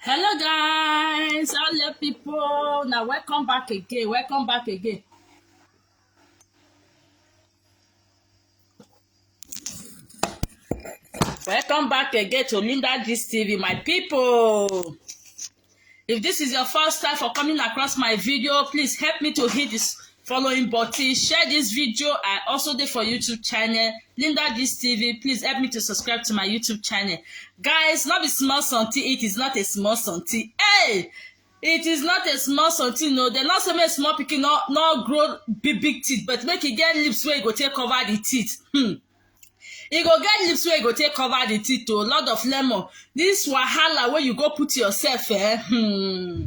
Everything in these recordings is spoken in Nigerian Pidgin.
hello guys hello people Now welcome back again welcome back again welcome back again to linda gist tv my people If this is your first time for coming across my video, please help me to hit this following button, share this video. I also did for YouTube channel, Linda This TV. Please help me to subscribe to my YouTube channel. Guys, not be small something. It is not a small something. Hey! it is not a small something no dem not say make small pikin no no grow big big teeth but make e get lips wey e go take cover the teeth hmm. e go get leaves wey go take cover the teeth o oh, lot of lemon this wahala wey you go put yourself eh hmm,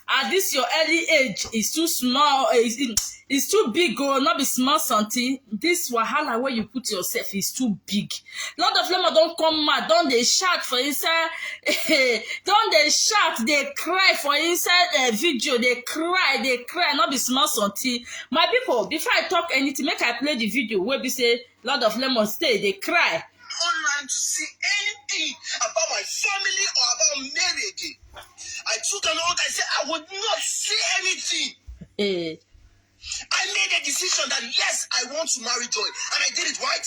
at this your early age is too small is eh, is too big o oh, no be small something this wahala wey you put yourself is too big lot of lemon don come mad don dey shout for inside don dey shout dey cry for inside uh, video dey cry dey cry no be small something my people before i talk anything make i play the video wey be say lord of lemon stay dey cry online to see anything about my family or about Mary again. I took an oath, I said I would not see anything. Eh, I made a decision that yes, I want to marry Joy, and I did it right.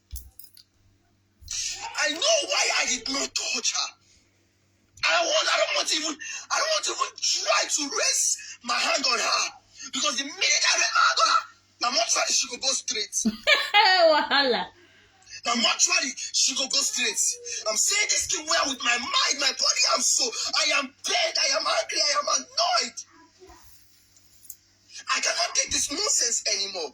I know why I did not touch her. I want, I don't want to even, I don't want to even try to raise my hand on her. Because the minute I raise my hand on her, my mom said she could go straight. Wahala. Now, naturally, she go go straight. I'm saying this thing well with my mind, my body, I'm so. I am pained, I am angry, I am annoyed. I cannot take this nonsense anymore.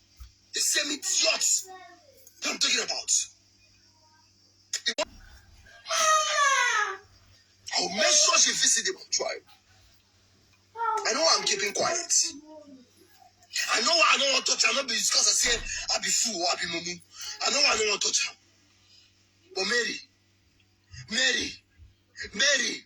The same idiot that I'm talking about. I'll make sure she visit the tribe. I know I'm keeping quiet. I know I don't want to touch her, not because I say I be fool or I be mumu. I know I don't want to touch her. But Mary, Mary, Mary,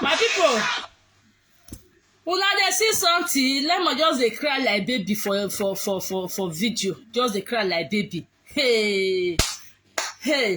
my people una dey see something lemon just dey cry like baby for for for for for video just dey cry like baby hey hey.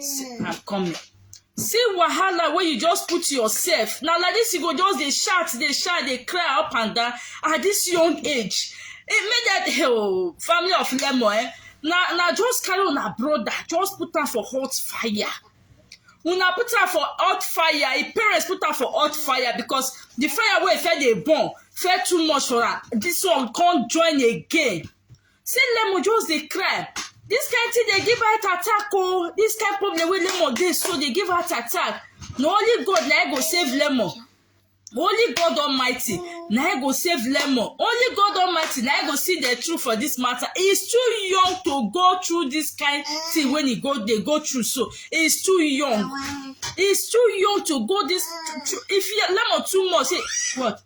See, I'm coming. See wahala wey you just put yourself. Na like this you go just dey shout, dey shout, dey cry up and down at this young age. E make that oh, family of lemon eh, na na just carry una brother, just put am for hot fire. Una put am for hot fire, im parents put am for hot fire because the fire wey e first dey burn first too much for am. This one come join again. See Lemo just dey cry. This kind thing dey give heart attack oh. This kind problem wey Lemo dey so dey give heart attack. Na only God na him go save Lemo. Only God Almighty na him go save Lemo. Only God Almighty na him go see the truth for this matter. He is too young to go through this kind thing when he go dey go through so. He is too young. He is too young to go this. If he, Lemo too much, say what?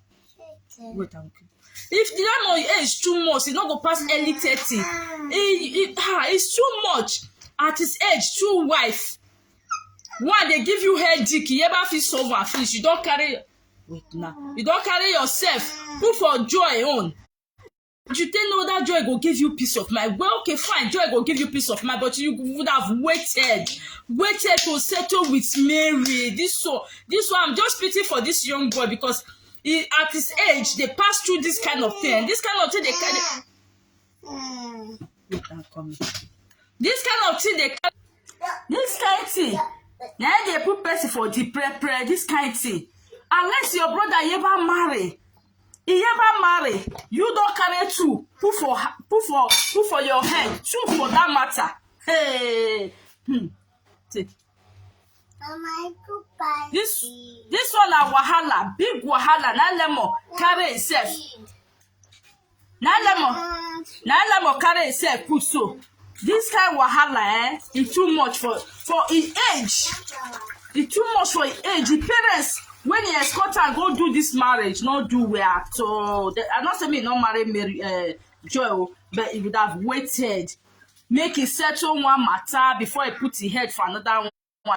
wait am okay if the landlord age too much e no go pass early thirty e e ah it's too much at his age two wife one dey give you headache you ever fit solve am finish you don carry wait na you don carry yourself put for joy own you didn't know that joy go give you peace of mind well okay fine joy go give you peace of mind but you would have waited waited to settle with mary this so this one i'm just pity for this young boy because he at his age they pass through this kind of thing this kind of thing they carry this kind of thing they carry this kind of thing na dey put person for the pre pre this kind of thing unless your brother ever marry Iyema marry, you don carry two, put for put for put for your head, two for that matter. Hey, hmm. Take. This this one na wahala, big wahala. Na lemon carry itself. na lemon na lemon carry himself put so this kind wahala eh e too much for for im age e too much for im age the parents when he escort am go do this marriage no do well at all The- i no say me no marry mary uh, joy o but he would have waited make he settle one matter before he put him head for another one.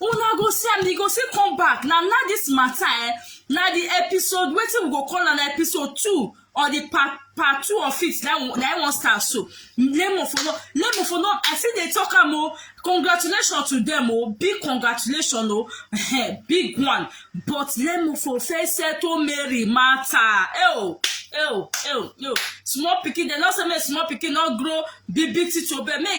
una go see am e go still come back na na this matter eh na the episode wetin we go call am na episode two or the part part two of it na im na im wan start so lemon for no lemon for no i still dey talk am o congratulations to them o big congratulations o eh, big one but lemon for first settle mary matter eh o eh o eh o eh o small pikin dem no say make small pikin no grow big big thing to obey make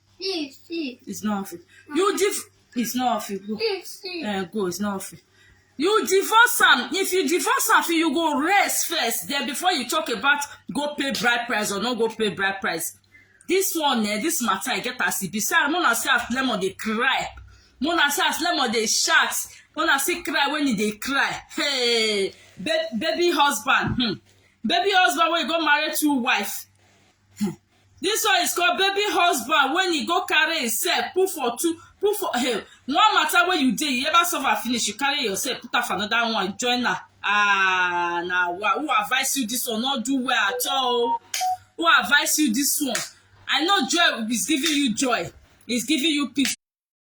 See, see. It's not off. You div. It's not off. Go. See, see. Uh, go. It's not off. You divorce am. If you divorce am, you go rest first. Then before you talk about go pay bride price or not go pay bride price. This one, eh, this matter, I get as it be. Say, I'm gonna say as lemon they cry. Mona say as lemon they shout. Mona say cry when e dey cry. Hey, ba baby husband. Hmm. Baby husband wey go marry two wife. This one is called baby husband when he go carry himself put for two put for hey, one matter wey you dey you ever suffer finish you carry yourself put am for another one join am ah na wa who advise you this one no do well at all o who advise you this one I know joy is giving you joy is giving you peace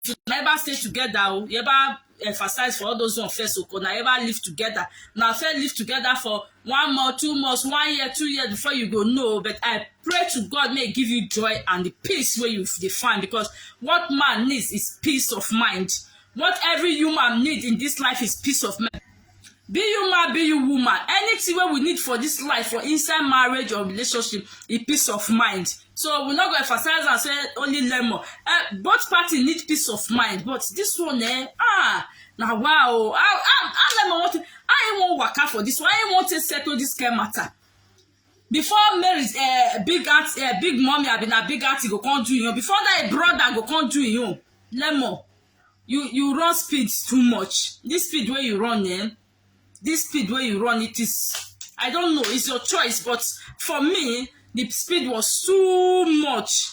if una ever stay together o oh, you ever emphasize for all those one first o oh, una ever live together una first live together for one month two months one year two years before you go know but i pray to god may give you joy and the peace wey you dey find because what man needs is peace of mind what every human need in this life is peace of mind be you man be you woman anything wey we need for this life for inside marriage or relationship e peace of mind so we no go emphasize am say only lemon uh, both party need peace of mind but this one eh ah na wow oh. how how how lemon wan take how he wan waka for this one how he wan take settle this kind matter before mary uh, big aunt uh, big mommy abi na big aunty go come do him own before that brother go come do him own lemon you you run speed too much this speed wey you run eh this speed wey you run it is i don't know it's your choice but for me the speed was too much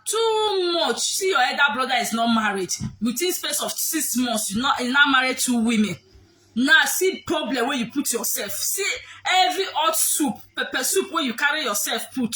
too much see your elder brother is not married within space of six months you not you not married two women now see problem wey you put yourself see every hot soup pepper soup wey you carry yourself put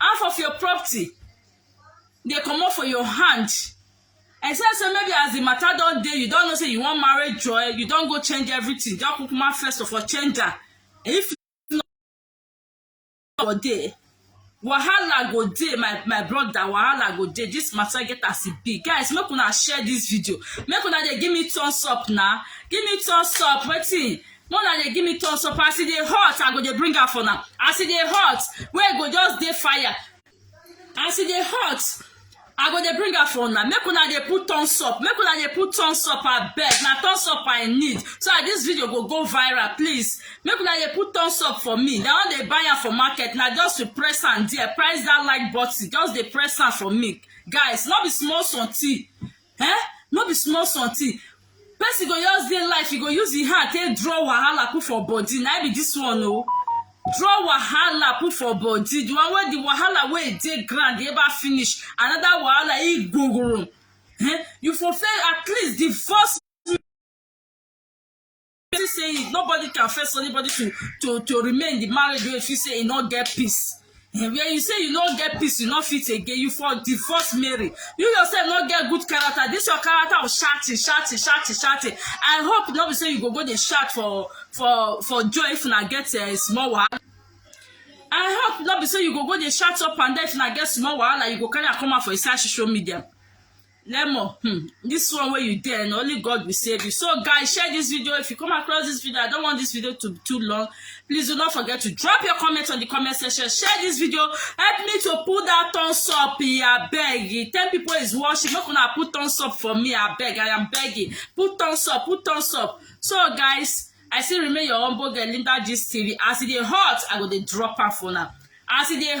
half of your property dey comot for your hand except say maybe as the matter don dey you don know say you wan marry joy you don go change everything just kukuma first of all change am if not for there wahala go dey my my brother wahala go dey this matter get as e be guys make una share this video make una dey give me thumbs up na give me thumbs up wetin Mona dey give me thumbs up as e dey hot I go dey bring am for now as e dey hot wey e go just dey fire as e dey hot I go dey bring am for una make una dey put thumbs up make una dey put thumbs up abeg na thumbs up I need so that this video go go viral please make una dey put thumbs up for me na wan dey buy am for market na just to press am there press that like button just dey press am for me guys no be small something eh no be small something person go just dey life e go use him hand take draw wahala put for body na be this one o draw wahala put for body the one wey the wahala wey e dey ground ever finish another wahala e gogoro eh you for fail at least the first feel say nobody can force anybody to to to remain in the marriage wey feel say e no get peace eh, where you say you no get peace you no fit again you for divorce marry you yourself no get good character this your character of shouting shouting shouting shouting i hope no be say you go go dey shout for for for joy if una get uh, small wahala i hope no be say you go go dey shout up and down if una get small wahala you go carry am come out for inside social media lemon hmm, this one wey you dey na only god will save you so guys share this video if you come across this video i don't want this video to be too long please do not forget to drop your comments on the comment section share this video help me to put that thumbs up I beg. ten people is watching make una put thumbs up for me I beg. i am begging put thumbs up put thumbs up so guys i still remain your humble girl linda gist tv as e dey hot i go dey drop am for una as e dey